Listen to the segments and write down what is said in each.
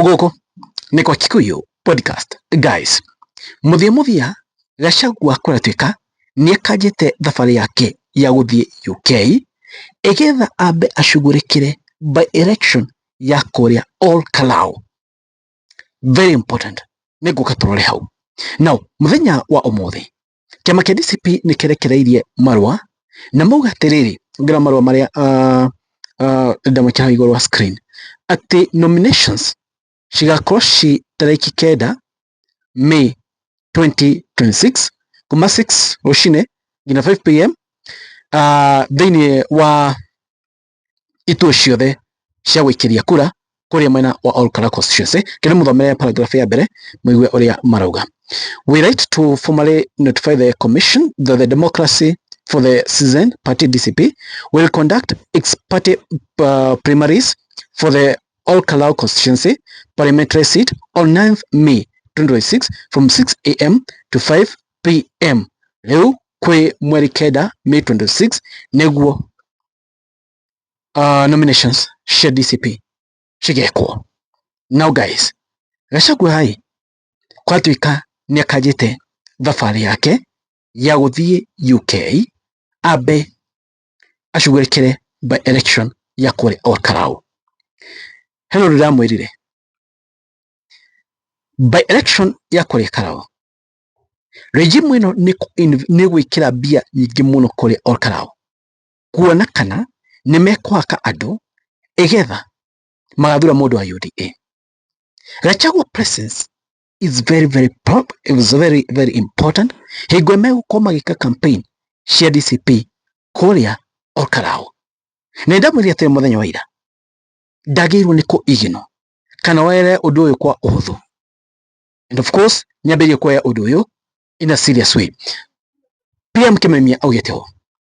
Gũkũ nĩ kwa Kikuyu Podcast guys. Mũthia mũthia Gachagua kũratuĩka nĩakanjĩte thabarĩ yake ya gũthiĩ UK ĩgetha ambe acugurĩkĩre by election ya kũrĩa Ol Kalou. Very important. Nĩngũka tũrore hau. Now, mũthenya wa ũmũthĩ kĩama kĩa DCP nĩ kĩrekereirie marũa na mauga atĩrĩrĩ ngĩra marũa marĩa uh, uh, ndamwĩkĩra hau igũrũ wa screen atĩ nominations cigakorwo ci tarĩki kenda May 2026 kuma 6 rũcinĩ nginya 5 pm uh, thĩinĩ wa ituo ciothe cia gũikĩria kura kũrĩa mwena wa Olkalau constituency kĩrĩ mũthomere paragraph ya mbere mũigue ũrĩa marauga we write to formally notify the commission that the democracy for the citizen party DCP will conduct its party uh, primaries for the Olkalau constituency parliamentary seat on 9th May 2026 from 6 a.m. to 5 p.m. Rĩu kwĩ mweri kenda May 26 nĩguo uh, nominations cia DCP cigekwo now guys Gachagua ĩ kwatuĩka nĩ akanjĩte thabarĩ yake ya gũthiĩ UK ambe acugurĩkĩre by election ya kũrĩa Olkalau Hello ndĩramwĩrire by election ya kũrĩa Olkalau Regime ĩno nĩ gwĩkĩra mbia nyingĩ mũno kũrĩ Olkalau. kuona kana nĩ mekũhaka andũ ĩgetha magathura mũndũ wa UDA. Gachagua presence is very very pop, it was very very important hingo megũkorwo magĩka campaign cia DCP kũrĩa Olkarao. Na ndamwĩrire atĩrĩ mũthenya wa ira ndagĩrĩirwo nĩ kũiginwo kana were ũndũ ũyũ kwa ũhũthũ and of course nyambĩrĩirie kuoya ũndũ ũyũ in a serious way PM Kimemia augĩte ũũ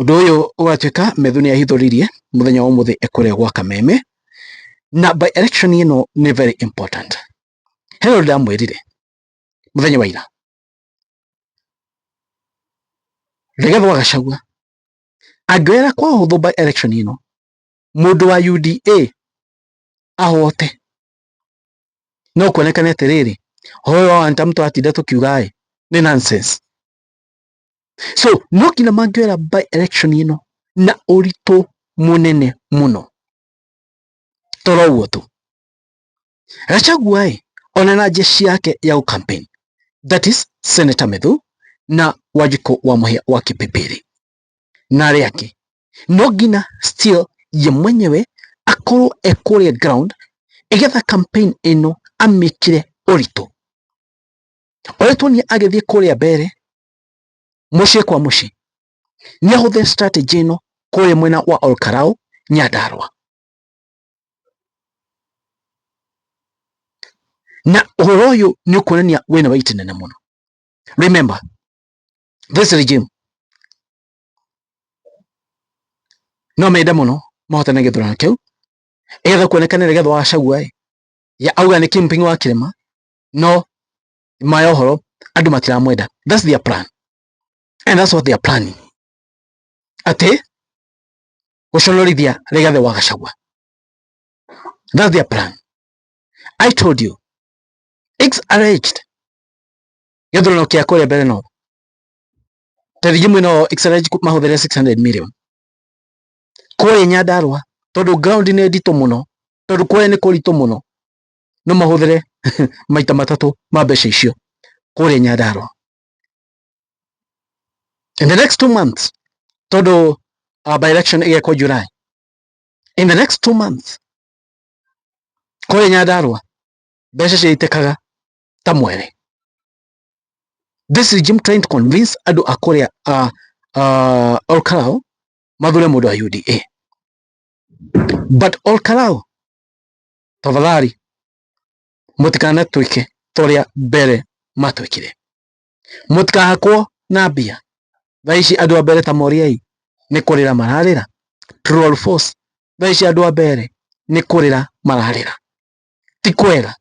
Ũndũ ũyũ ũgatuĩka Methu nĩ ahithũririe mũthenya wa ũmũthĩ kũrĩa gwa Kameme, na by election ĩno nĩ very important. He ũndũ ndamwĩrire mũthenya wa ira, Rigathĩ wa Gachagua angĩoera kwa ũhũthũ by election ĩno, mũndũ wa UDA ahote, no kuonekane atĩrĩrĩ, huyo antamtu atinda tukiuga ĩ nĩ nonsense. so no nginya mangĩoera by election ĩno na ũritũ mũnene mũno toro ũguo tu gacagua ĩ ona na njeci yake ya campaign that is senator methu na wanjikũ wa mũhĩa wa kĩpĩpĩrĩ na arĩa angĩ no nginya still ye mwenyewe akorwo ekũrĩa ground ĩgetha campaign ĩno amĩkire ũritũ oretwo nĩ agĩthiĩ kũrĩa mbere mũciĩ kwa mũciĩ nĩ ahũthĩre strategy ĩno kũrĩa mwena wa Olkarau Nyandarua na ũhoro ũyũ nĩ ũkuonania wĩna waiti nene mũno remember this regime no mende mũno mahotane gĩthurano kĩu etha kuonekana nĩgetha wacagua ya auga nĩ kingpin wa kĩrĩma no maya ũhoro andũ matiramwenda that's their plan and that's what they are planning atĩ gũconorithia Rigathi wa Gachagua that's their plan I told you it's arranged gĩthurano kĩa kũrĩa mbere no tarĩngĩ mwena wa excellence mahũthĩre 600 million kũrĩ Nyandarua tondũ ground nĩ nditũ mũno tondũ kũrĩa nĩ kũritũ mũno no mahũthĩre maita matatũ ma mbeca icio kũrĩa Nyandarua in the next two months tondũ uh, by election ĩgekwo July in the next two months kũrĩa Nyandarua mbeca ciaitĩkaga ta mwere this is Jim trying to convince andũ a kũrĩa uh, uh, Olkalau mathure mũndũ wa UDA but Olkalau tafadhali mũtikanatwĩke torĩa mbere matwĩkire mũtikahakwo na mbia thaa ici andũ a mbere ta moriai nĩ kũrĩra mararĩra true or false thaa ici andũ a mbere nĩ kũrĩra mararĩra ti kwega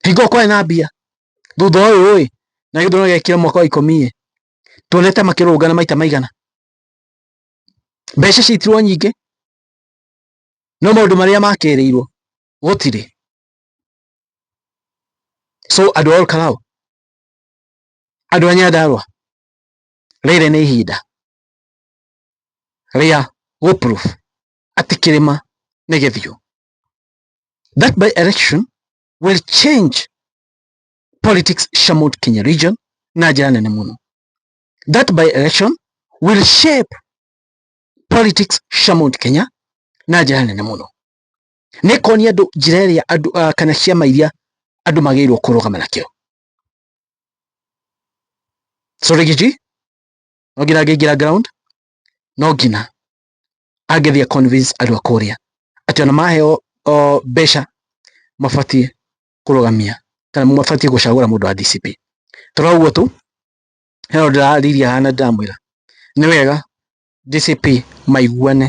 hingo kwarĩ na mbia thutha ũyũ ĩ na gĩthurano gĩakire mwaka wa ikũmi ĩ tuonete makĩrũngana maita maigana mbeca citirwo nyingĩ No maũndũ marĩa makĩrĩirwo gũtirĩ. So andũ a Olkalau, andũ a Nyandarua, rĩrĩ nĩ ihinda rĩa gũ prove atĩ kĩrĩma nĩ gĩthiũ. That by election will change politics cia Mount Kenya region na njĩra nene mũno. That by election will shape politics cia Mount Kenya na njĩra nene mũno nĩ ĩkonia andũ njĩra ĩrĩa andũ uh, kana ciama iria andũ magĩrĩirwo kũrũgama nakĩo Sorigiji no nginya angĩingĩra ground no nginya angĩthiĩ a convince andũ a kũrĩa atĩ ona maheo o, mbeca mabatiĩ kũrũgamia kana mabatiĩ gũcagũra mũndũ wa DCP tũroguo tu he ũndũ ndĩrarĩrĩria haha na ndĩramwĩra nĩ wega JCP maiguane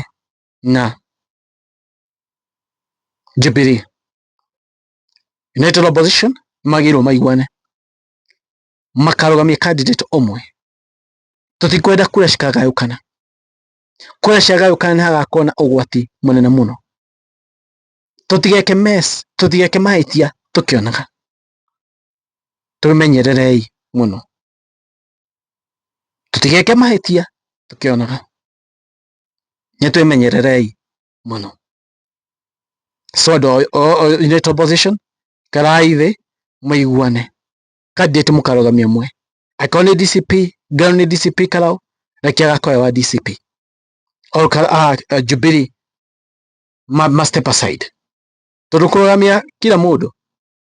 na Jubilee. United Opposition magĩrĩirwo maiguane makarũgamia candidate ũmwe. Tũtikwenda kura cikagayũkana. Kura ciagayũkana nĩ hagakorwo na ũgwati mũnene mũno. Tũtigeke mess, tũtigeke mahĩtia tũkĩonaga. twĩmenyererei mũno. Tũtigeke mahĩtia tũkĩonaga, nĩ twĩmenyererei mũno. So andũ in that opposition, ikarai thĩ mũiguane. Candidate mũkarũgamia ũmwe. Angĩkorwo nĩ DCP, Ngarũ nĩ DCP Karau, reke agakorwo e wa DCP. Or ah, eh, Jubilee ma, ma step aside. Tondũ kũrũgamia kila mũndũ